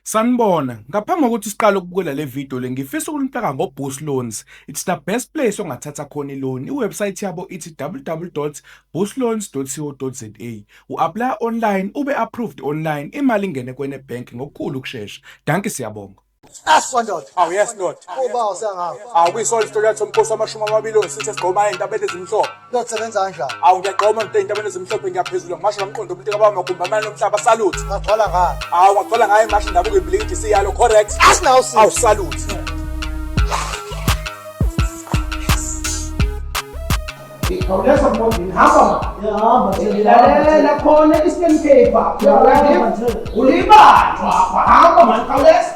Sanibona, ngaphambi kokuthi siqale ukubukela le video le ngifisa ukunipaka ngoBoost Loans. It's the best place ongathatha khona i-loan. I-website yabo ithi www.boostloans.co.za. U-apply online, ube approved online, imali ingene kwene bank ngokukhulu ukushesha. Danke siyabonga. Aswandoda. Awu yes ndoda. Uba usengawo. Awu kuyisona isitolo yathi umkhosi wamashumi amabili osithe sigqoma into abethe ezimhlophe. Uyosebenza kanjani? Awu ngiyagqoma ngithe intabeni ezimhlophe ngiyaphezulu ngimashe ngamqondo umuntu kababa magumba amane lomhlaba salute. Ngagcwala ngani? Awu ngagcwala ngaye mashe ndabuka iblink siyalo correct. Asinawu si. Awu salute. Khawuleza mbodini hamba ma. Yahamba nje. Lalela khona i-stem paper. Yahamba nje. Ulibanjwa apha hamba mani khawuleza.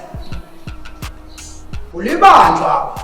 Ulibanjwa apha.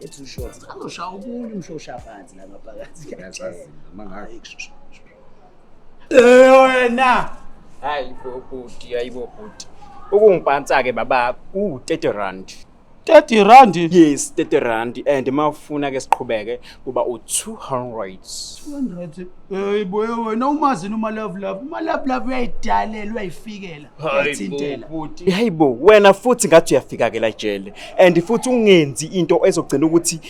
It's short. Azoshawa ukunye umshosha phansi la ngaphakathi. Ngiyazazi noma ngayo. Eh wena. Hayi bo bhuti, hayi bo bhuti. Ukungiphansa ke baba u 30 rand. 30 rand? Yes, 30 rand and mawufuna ke siqhubeke kuba u 200. 200. Hey boy wena umazini uma love love. Uma love love uyayidalela uyayifikela. hayi bo wena futhi ngathi uyafika ke la jele and futhi ungenzi into ezogcina ukuthi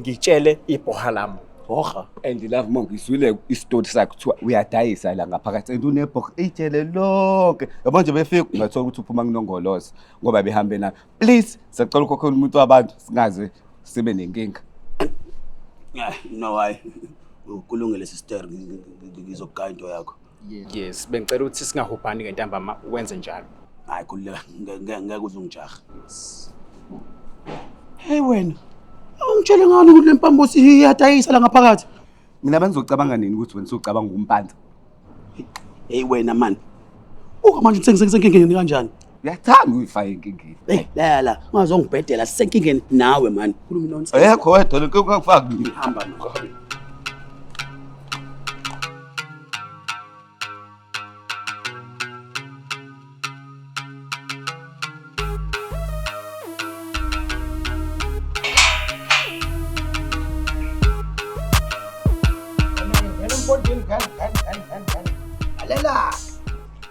ngitshele ibhoha lami hoha and love mo ngizwile isitori sakhe kuthiwa uyadayisa la ngaphakathi and unebhoha ijele lonke yabo nje befika ungathola ukuthi uphuma kunongoloza ngoba behambe na please sacela ukhokhela umuntu wabantu singaze sibe nenkinga no hayi ukulungele sister ngizokugaya into yakho yes bengicela ukuthi singahubhani ngentambama wenze njalo hayi khululeka nge- nge- ngeke uze ungijahe heyi wena awungitshele ngani ukuthi le mpambo siyadayisa la ngaphakathi mina bengizocabanga nini ukuthi wena socabanga ukumpanza heyi wena mani uka manje sengisenkingeni kanjani uyathanda uyifaka enkingeni Hey, la la, ungazongibhedela sisenkingeni nawe man. Khuluma nonsense. ayekho wedwa le nkinga kufaka mina Hamba no.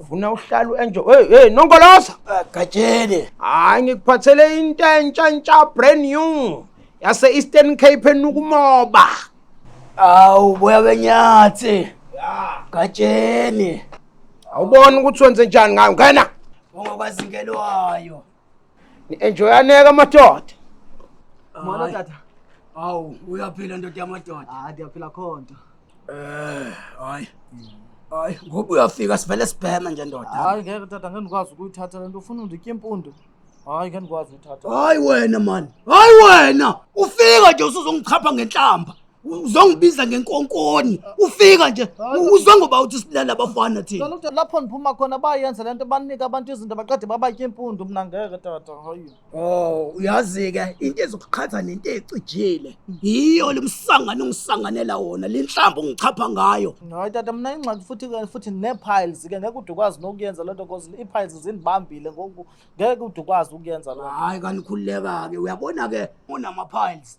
ufuna uhlala uenjoy hey hey nonkoloza gatsheni hayi ngikuphathele into entsha entsha brand new yase Eastern Cape enukumoba awu boya benyathi gatsheni awubona ukuthi wenze njani ngayo ngena ungokwazingelwayo Ni-enjoyaneke amadoda. Molo Hayi. tata. Awu, uyaphila ndoda yamadoda. Hayi ndiyaphila khonto. Eh, hayi. Hayi, ngoba uyafika sivele sibheme nje ndoda. Hayi ngeke tata ngeke ndikwazi ukuyithatha le nto ufuna unditya impundu. Hayi ngeke ndikwazi uyithatha. Hayi wena man. Hayi wena. Ufika nje usuzongichapha ngenhlamba. uzongibiza ngenkonkoni ufika nje uzwe ngoba uthi silala abafana thina Ngicela ukuthi lapho ndiphuma khona bayenze lento banika abantu izinto baqede babatye impundu mina ngeke tata hayi Oh, uyazi-ke into ezokuqhatha nento ecijile yiyo lo msangano ongisanganela wona le nhlamba ongichapha ngayo hayi tata mina ingxaki futhi ke futhi nee-piles ke ngeke ude ukwazi nokuyenza lento cause ii-piles zindibambile ngoku ngeke ude ukwazi ukuyenza loo nto. hhayi kanikhululeka-ke uyabona-ke unama-piles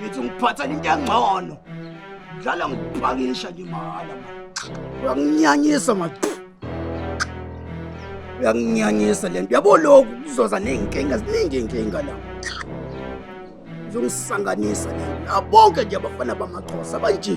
ngithi ngiphathela into engcono dlala ngikupakisha nje mahhala uyanginyanyisa ma uyanginyanyisa le nto yabo lokhu kuzoza ney'nkinga ziningi iy'nkinga la zongisanganisa le nto bonke nje abafana bamaxhosa banje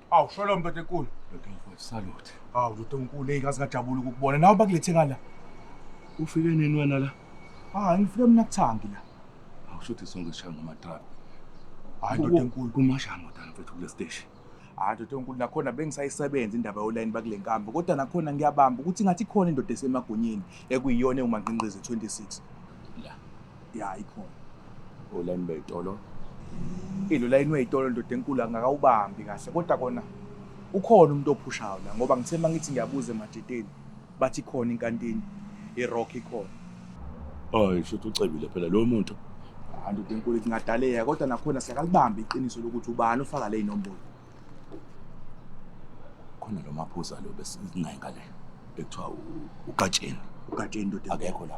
Awu sholo mntoda enkulu. Ndoda salute. Awu ndoda enkulu hey kazi ngajabula ukukubona. Nawe bakulethe ngala. Ufike nini wena la? Ah ngifike mina kuthangi la. Awu shothi sonke sishaya ngama trap. Hayi ndoda enkulu kumasha ndoda mfethu kule station. Hayi ndoda enkulu nakhona bengisayisebenza indaba yolayini bakule nkambi kodwa nakhona ngiyabamba ukuthi ngathi khona indoda esemagonyeni ekuyiyona ewumanqinqizi 26. ya ikhona olayini beyitolo ilo layini weyitolo ndoda enkulu angakawubambi kahle kodwa kona ukhona umuntu ophushayo la ngoba ngithe uma ngithi ngiyabuza emajiteni bathi khona inkantini irock ikhona hayi shuthi ucebile phela lo muntu hayi ndoda enkulu kungadaleka kodwa nakhona siyakalibambi iqiniso lokuthi ubani ofaka le inombolo khona lo maphuza lo besinaye ngale ekuthiwa ugatsheni ugatsheni ndoda akekho la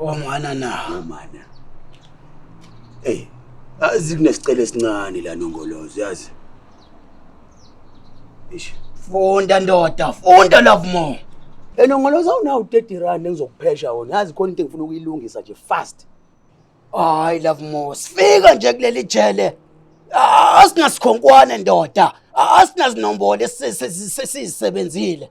Omana na. Omana. Hey, azi kunesicelo esincane la nongolozo yazi. Ish. Funda ndoda, funda love more. Enongoloza unawo 30 rand engizokuphesha wona. Yazi khona into engifuna ukuyilungisa nje fast. Hayi love more. Sifika nje kuleli jele. Asingasikhonkwane ndoda. Asinazinombolo esisebenzile.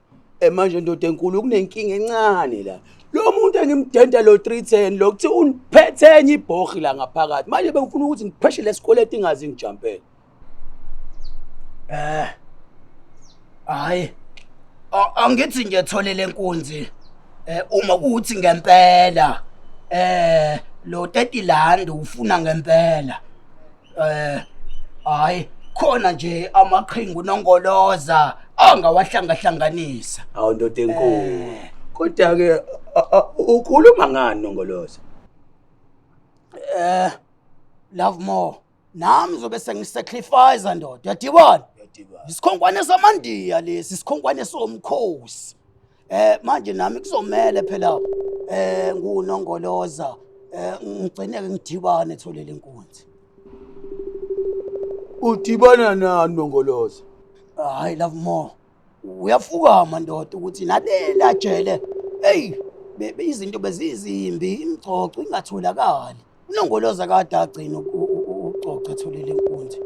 Eh manje ndoda enkulu kunenkinga encane la. Lo muntu engimdenta lo 310 lo kuthi uniphethe enye ibhohi la ngaphakathi. Manje bengifuna ukuthi ngipheshe lesikweleti ingazi ngijampele. Eh. Hayi. A- Angithi ngiyethole lenkunzi. Eh uma kuthi ngempela eh lo 30 landi ufuna ngempela. Eh hayi khona nje amaqhingu nongoloza angawahlangahlanganisa. Awu ndoda enkulu. Eh. Kodwa ke a- a- ukhuluma ngani nongoloza? Eh love more. Nami zobe sengisacrifice ndoda. Yadibona? Yadibana. Isikhonkwane samandiya lesi, isikhonkwane somkhosi. Eh manje nami kuzomele phela eh ngunongoloza eh ngigcine ke ngidibane etholele inkunzi. Udibana nani nongoloza? Hayi love more. Uyafukama ndoda ukuthi nalela jele. Hey bebe izinto bezizimbi imgcoco ingatholakali. Unongoloza kade agcina ucoca etholile inkunzi.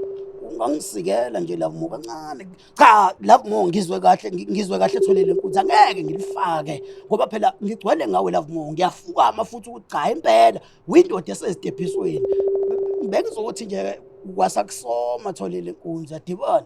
Ungangisikela nje love more kancane. Cha love more ngizwe kahle ngizwe kahle etholile inkunzi angeke ngilifake ngoba phela ngigcwele ngawe love more ngiyafukama futhi ukuthi cha impela windoda esezidebhisweni. Bengizothi nje kwasakusoma tholile inkunzi adibona.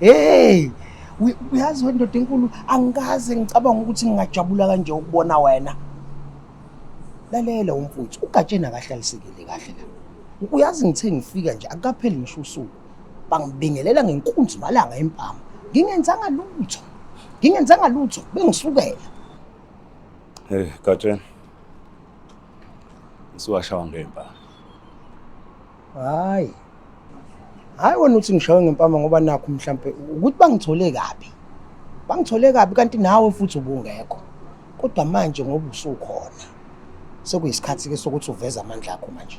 hey uyazi wendoda enkulu angikaze ngicabanga ukuthi ngingajabula kanje ukubona wena lalela umfuthu ugatsheni akahlalisekile kahle la uyazi ngithe ngifika nje akukapheli ngisho usuku bangibingelela ngenkunzi malanga empama ngingenzanga lutho ngingenzanga lutho bengisukela hey gatsheni ngiwashawa ngempama hayi hayi wena uthi ngishawe ngempama ngoba nakho mhlampe ukuthi bangithole kabi bangithole kabi kanti nawe futhi ubungekho kodwa manje ngoba usukhona sekuyisikhathi ke sokuthi uveze amandla akho manje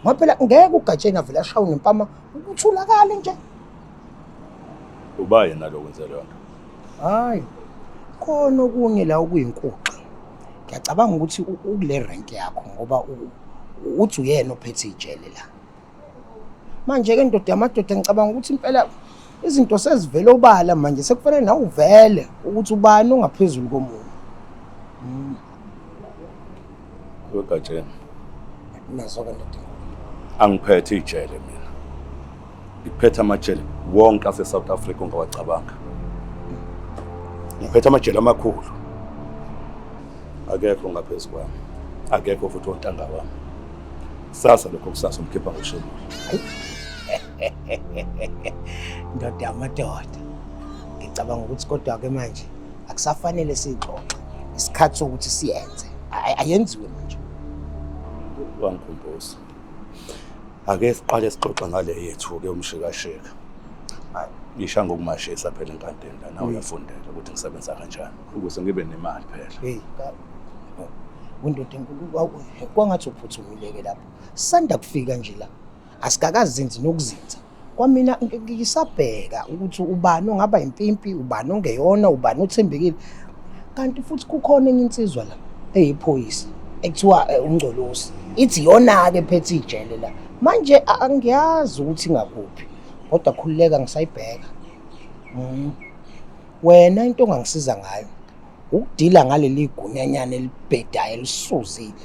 ngoba phela ngeke ugatsheni avele ashawe ngempama ukuthulakale nje uba yena lokwenze leyo nto hayi khona okunye la okuyinkuxa ngiyacabanga ukuthi u- ukule rank yakho ngoba u- uthi uyena ophethe ijele la manje-ke ndoda yamadoda ngicabanga ukuthi impela izinto sezivele obala manje sekufanele nawe uvele ukuthi ubani ongaphezulu komunye Mm, wegatsheni nazo-ke ndoda angiphethe ijele mina Ngiphethe amajele wonke aseSouth Africa ongawacabanga. Ngiphethe amajele amakhulu. Akekho ngaphezu kwami. Akekho futhi ontanga wami. Sasa lokho kusasa umkhipha ngoshembu. Ndoda amadoda. Ngicabanga ukuthi kodwa ke manje akusafanele sixoxe. Isikhathi sokuthi siyenze. Ayenziwe manje. Wangikhumbuza. ake siqale sixoxa ngale yethu-ke umshikashika ngisha ngokumashisa phela enkantini lana uyafundela ukuthi ngisebenza kanjani ukuze ngibe nemali phela hey undoda enkulu kwangathi uphuthumile-ke lapho sanda kufika nje la asikakazinzi nokuzinza kwamina ngisabheka ukuthi ubani ongaba impimpi ubani ongeyona ubani othembekile kanti futhi kukhona enye insizwa la eyiphoyisa ekuthiwa eh, ungcolosi ithi yona-ke ephethe ijele la manje angiyazi ukuthi ingakuphi kodwa khululeka ngisayibheka mm. wena into ongangisiza ngayo ukudila ngaleli gunyanyana elibhedayo elisuzile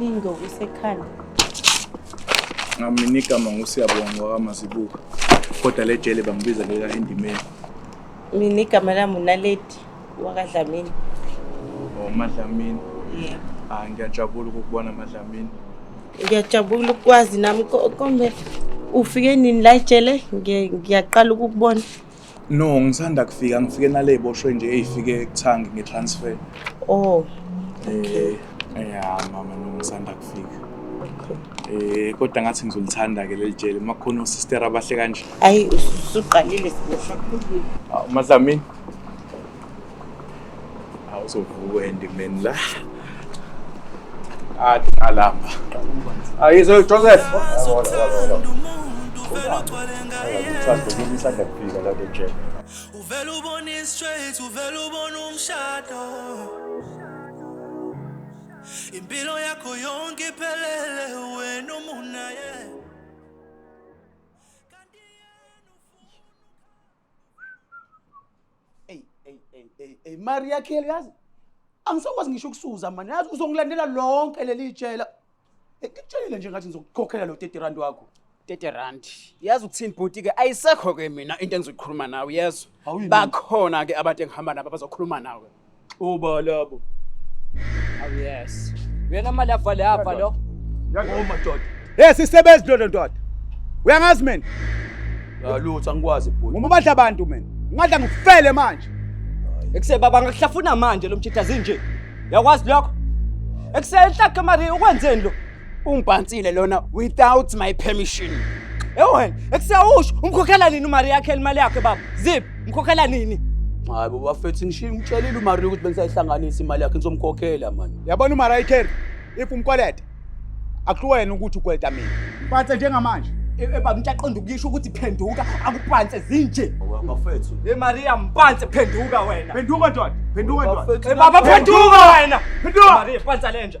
Lingo usekhanda. Ngamini igama nguSiyabonga wakamazibuko. Kodwa le jele bangibiza leka endimeni. Mina igama lami uNaledi wakaDlamini. Oh, Madlamini. Yeah. Ah, ngiyajabula ukukubona Madlamini. Ngiyajabula ukwazi nami ko- kombe ufike nini la ejele Ngiye- ngiyaqala ukukubona. No, ngisanda kufika ngifike nale boshwe nje eyifike kuthangi nge transfer. Oh. Okay. Eh, yeah, mama no ngisanda kufika. Eh kodwa ngathi ngizolithanda ke leli jele makhona osister abahle kanje. Hayi usuqalile siboshwa. Madlamini. awuzovuka endimeni la athi alamba ayizo joseph uvela ubona i-straight uvela ubona umshado impilo yakho yonke iphelele wena umunaye Ey ey ey ey ey mari yakhe yazi. Angisakwazi ngisho ukusuza mani yazi uzongilandela lonke leli tshela. Ngikutshelile nje ngathi ngizokukhokhela lo 30 rand wakho. 30 rand. Yazi ukuthini bhuti ke ayisekho ke mina into engizokhuluma nawe yezwa. Bakhona ke abantu engihamba nabo abazokhuluma nawe. Ubalabo. Oh yes. Uyena mali avale hava lo. Yangoma doda. Hey sisebenzi dodo ndoda. Uyangazi mina? Yalutho angikwazi bhuti. Uma badla abantu mina. Ngadla ngifele manje. Ekuse baba ngakuhlafuna manje lo mjita zinje. Yakwazi lokho? Ekuse enhlakhe mari ukwenzeni lo? Ungibhansile lona without my permission. Ewu wena, ekusawusho umkhokhela nini umari yakhe imali yakhe baba? Zip, umkhokhela nini? Hayi baba fethi ngishiye ngitshelile uMaria ukuthi bengisayihlanganisa imali yakhe ngizomkhokhela manje. Yabona uMaria ikheri if umkweleta akuwena ukuthi ukweleta mina. Phathe njengamanje. Eba ngiyaqonda ukuyisho ukuthi phenduka akuphanse zinje. Bafethu. Hey Maria mpanse phenduka wena. Phenduka ndoda. Phenduka ndoda. Baba phenduka wena. Phenduka. Maria phansa lenja.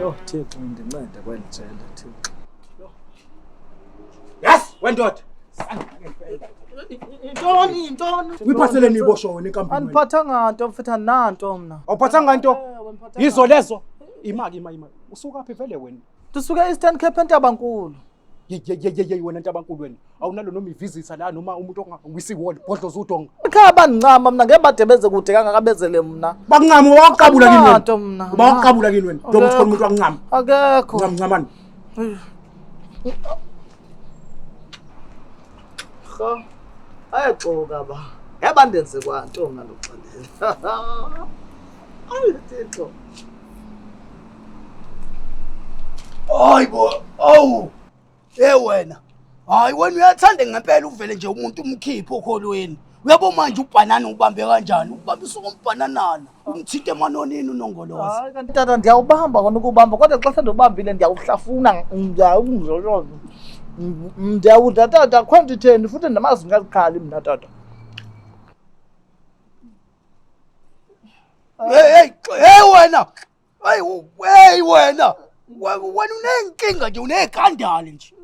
Yho Thixo ndincede kweli jele Thixo. Yes, wendoda. Yintoni yintoni? Uyiphathele niyibosho wena inkampani. Andiphathanga nto mfethu andinanto mna. Awuphathanga nto? Yizo lezo. Imaki ima ima. Usuka phi vele wena? Ndisuke Eastern Cape eNtabankulu. Yeyeyeyey wena Ntabankulu wena. Awunalo noma ivisitha la noma umuntu ongawisi wall bhodlo zudonga. Ekhaya bangincama mina ngeke badebeze kude kangaka bezele mina. Bakuncama waqabula kini wena. Umnotho mina. Bawaqabula kini wena. Njengoba uthola umuntu wakuncama. Akekho. Ncama ncamani. Cha. Ayaxoka ba. Yaba ndenze kwanto ngaloxelela. Ayi Thixo. Hayi bo, awu. Hey wena. Hayi wena uyathanda ngempela uvele nje umuntu umkhiphe okholweni. Uyabo manje ubhanana ubambe kanjani? Ubambisa umbhananana. Umthinte emanonini unongoloza. Hayi kanti tata ndiyawubamba kona ukubamba kodwa xa sele ndibambile ndiyawuhlafuna ndiyawungzoloza. Ndiyawudla tata akho nto itheni futhi ndamazi ngazikhali mna tata. Hey hey wena. Hey hey wena. Wena unenkinga nje unegandali nje.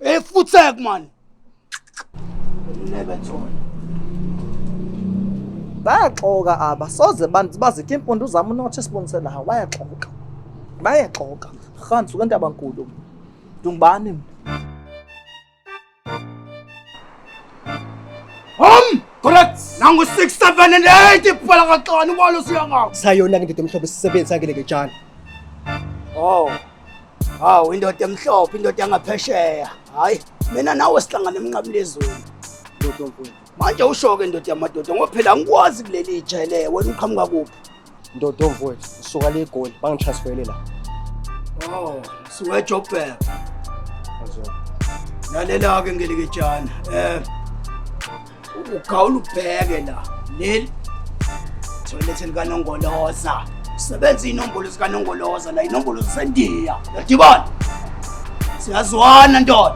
Hey futsek man. Never told. Bayaxoka aba soze bantu bazithe impundu zami unothe sibonise la bayaxoka. Bayaxoka. Khans ukantabankulu. Dungubani mina. Home! Correct! Nangu 6, 7, and 8! Ipala ka tlani walo siya nga! Sayo na ngindoda emhlophe sisebenzi sakhe leke tshana. Oh! Hawu, indoda emhlophe, indoda yangaphesheya. Hayi, mina nawe sihlangana emnqamlezweni. Ndoda omfundisi. manje ushoke ndoda yamadoda ngoba phela angikwazi kuleli ijele wena uqhamuka kuphi ndoda omfowethu usuka le goli bangitransfele la oh suka joburg lalela-ke ngelikejana um eh, ugawula ubheke la leli thoyilethe likanongoloza usebenza iy'nombolo zikanongoloza la inombolo zisendiya yadibana siyazwana ndoda